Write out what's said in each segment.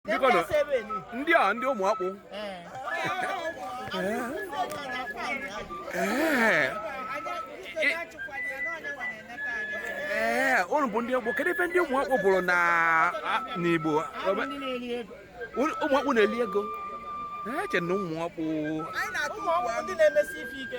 bikonu ndị a ndị ụmụ ọkpụ ee ee unu bụ ndị ọkpụ kedu ife ndị ụmụ ọkpụ bụrụ na n'igbo ụmụ ọkpụ na-eli ego eche na ụmụ ọkpụ ụmụ ọkpụ ndị na-emesi ife ike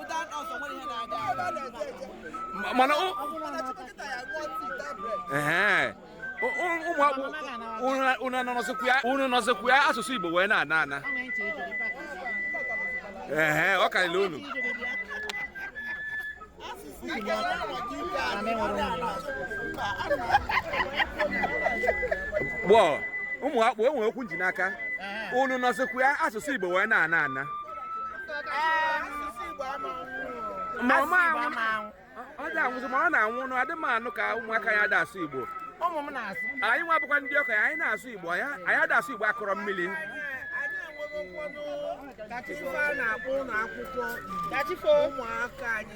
mana unu nọzikwu ya asụsụ Igbo wee na-ana ana ee ọ karịrị unu bụ ụmụ ọkpụ enwere okwu nji n'aka unu nọzikwu ya asụsụ Igbo wee na-ana ana ma ọ ma anwụ ọ dị anwụzi ma ọ na-anwụ nụ adị m anụ ka ụmụaka anyị ada asụ igbo ụmụ m na-asụ anyị nwa bụkwa ndị okenye anyị na-asụ igbo anyị anyị ada asụ igbo akụrọ mmili ka chifo a na-akpọ ụlọ akwụkwọ ụmụaka anyị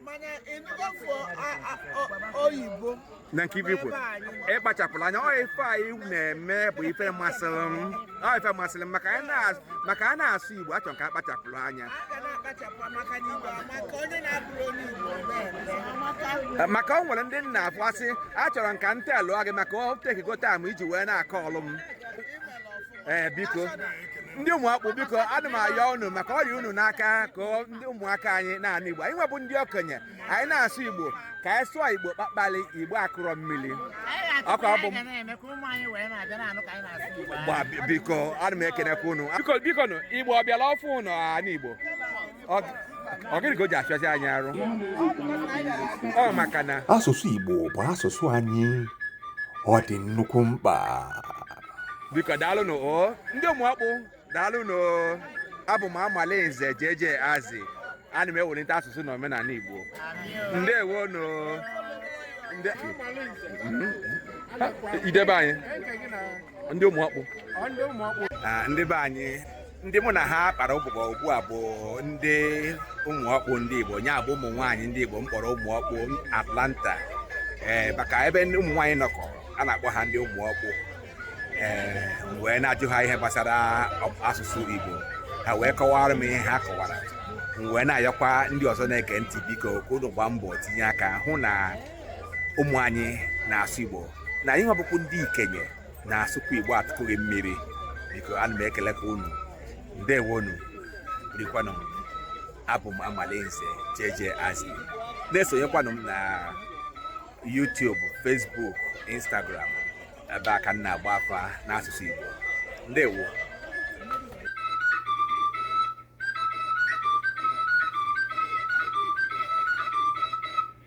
mana ịnụgo fọ a- a- o- oyibo na nke ife kwuru ịkpachapụrụ anya ọ ife anyị na-eme bụ ife masịrị m ọ ife masịrị m maka anyị na- maka a na-asụ igbo achọrọ ka a kpachapụrụ anya a ga na-akpachapụ maka na igbo amaka onye na-abụrọ onye igbo na-eme amaka Eh, maka ọ nwere ndị m na-afụ asị achọrọ m ka m telụọ gị maka ọ takego time iji wee na-akọ ọlụ m ee biko ndị ụmụ ọkpụ biko ana m ayọ unu maka ọ rị unu n'aka ka ọ- ndị ụmụaka anyị na-anụ igbo anyị nwa bụ ndị okenye anyị na-asụ igbo ka anyị sụọ igbo kpakpali igbo akụrọ mmili ọkụ ọ bụ gba biko ana m ekenekwa unu biko biko nụ igbo ọ bịala ọfụ unu anụ igbo asụsụ Igbo bụ asụsụ anyị ọ dị nnukwu mkpa biko daalụnụ o ndị ụmụ ọkpụ daalụnụ abụ m Amalinze JJ Azị ana m ewelite asụsụ na omenala igbo ndewonụ ndị be anyị ndị ụmụ ọkpụ ndị be anyị ndị mụ na ha kpara ụbụbọ ugbu a bụ ndị ụmụ ọkpụ ndị Igbo nya bụ ụmụ nwaanyị ndị Igbo m kpọrọ ụmụ ọkpụ Atlanta ee maka ebe ụmụ nwaanyị nọkọ a na-akpọ ha ndị ụmụ ọkpụ ee wee na-ajụ ha ihe gbasara asụsụ Igbo ha wee kọwara m ihe ha kọwara m wee na-ayọkwa ndị ọzọ na-ege ntị biko ka unu gbaa mbọ tinye aka hụ na ụmụ anyị na-asụ Igbo na anyị nwa bụkwu ndị ikenye na-asụkwa igbo atụkụghị mmiri biko ana m ekelekwa unu ndewonụ rikwanụ abụ m amalinze jeje azi na-esonyekwanụ m na YouTube Facebook Instagram ebe a ka m na-agba afa n'asụsụ igbo ndewo